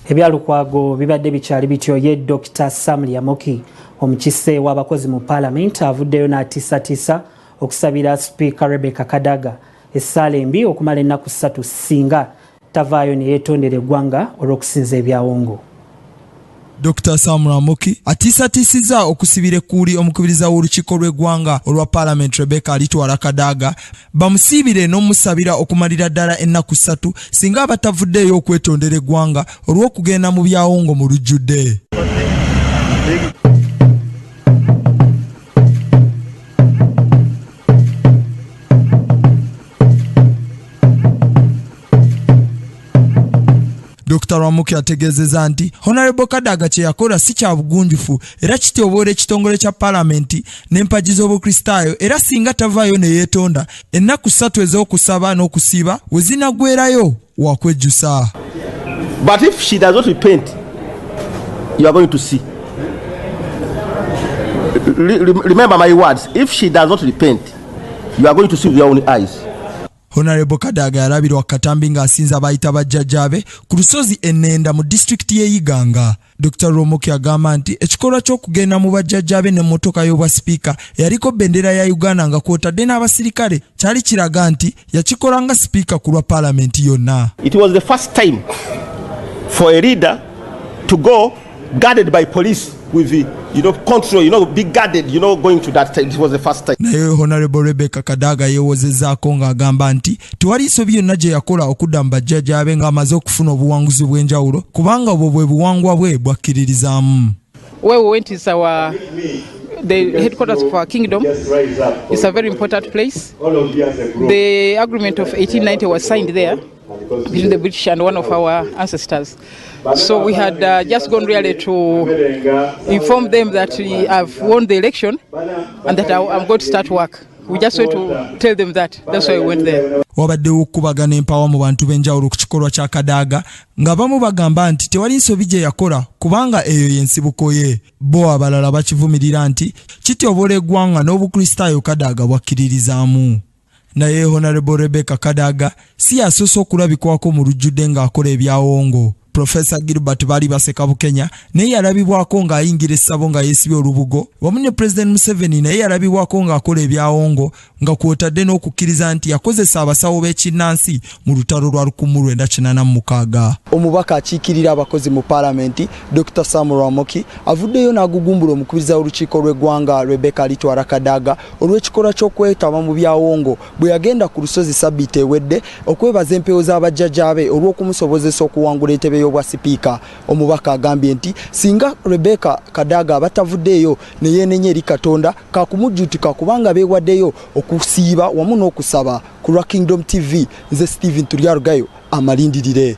ebyalukwago bibadde bikyali bityo ye dr sam lyamoki omukise w'abakozi mu paalamenti avuddeyo n'atiisatiisa okusabira sipiika rebecca kadaga essaala embi okumala ennaku ssatu singa tavaayo ne yeetondera eggwanga olw'okusinza ebyawongo. Dokita Sam Ramuki atiisatiisizza okusibira ekkuuli omukubiriza w'olukiiko lw'eggwanga olwa paalamenti Rebecca Alitwala Kadaga bamusiibire n'omusabira okumalira ddala ennaku ssatu singa abatavuddeeyo okwetondera eggwanga olw'okugenda mu byawongo mu lujjudde. Dr Rwamuke yategeezezza nti Honorable Kadaga kye yakola si kya bugunjufu era kityoboola ekitongole kya palamenti n'empagi z'obukristaayo era singa tavaayo ne yeetonda ennaku ssatu ez'okusaba n'okusiiba we zinaggwerayo wakwejjusa but if she does not repent you are going to see remember my words if she does not repent you are going to see with your own eyes honarebo kadaga yalabirwa katambi ng'asinza abayita bajjajjaabe ku lusozi enenda mu disitulikiti y'eyiganga Dr Rwomuki agamba nti ekikolwa ky'okugenda mu bajjajjaabe ne mmotoka y'obwa sipiika eyaliko bendera ya Uganda nga kwotadde n'abasirikale kyali kiraga nti yakikola nga sipiika ku lwa paalamenti yonna. It was the first time for a leader to go guarded by police with the you know, control, you know, be guarded, you know, going to that time. It was the first time. Naye Honorable Rebecca Kadaga yewozezaako ng'agamba nti tewali nsobi yonna gye yakola okudda mu bajjajja be ng'amaze okufuna obuwanguzi obw'enjawulo kubanga obwo bwe buwangwa bwe bwakkiririzaamu. Where we went is our the headquarters of our kingdom. It's a very important place. The agreement of 1890 was signed there. This is the British and one of our ancestors. So we had uh, just gone really to inform them that we have won the election and that I, I'm going to start work. We just went to tell them that. That's why we went there. wabaddewo okukubagana empawa mu bantu b'enjawulo ku kikolwa kya kadaaga nga bamu bagamba nti tewali nsobi gye yakola kubanga eyo y'ensibuko ye bo abalala bakivumirira nti kityobola eggwanga n'obukristaayo kadaaga bwakkiririzaamu naye honarebo rebecca kadaga si yasoose okulabikwako mu lujjudde ng'akola ebyawongo profesa gilbert baali baseka bukenya naye yalabibwako ng'ayingira essabo nga yeesibye olubugo wamu ne pulezidenti museveni naye yalabibwako ng'akola ebyawongo nga kwotadde n'okukkiriza nti yakozesa abasawo b'ekinnansi mu lutalo lwa lukumu lwenda kinana mu mukaaga omubaka akiikirira abakozi mu paalamenti dr sam rwamoki avuddeyo n'agugumbula omukubiriza w'olukiiko lw'eggwanga rebecca litwara kadaga olw'ekikolwa ky'okwetaba mu byawongo bwe yagenda ku lusozi sabbiiti ewedde okwebaza empewo za bajjajaabe olw'okumusobozesa okuwangula entebe y'obwa sipiika. Omubaka agambye nti singa Rebecca Kadaga aba tavuddeeyo ne yeenenya eri Katonda kaakumujjuutuka kubanga beewaddeyo okusiiba wamu n'okusaba. Ku lwa Kingdom TV, nze Steven Turyarugayo, amalindirire.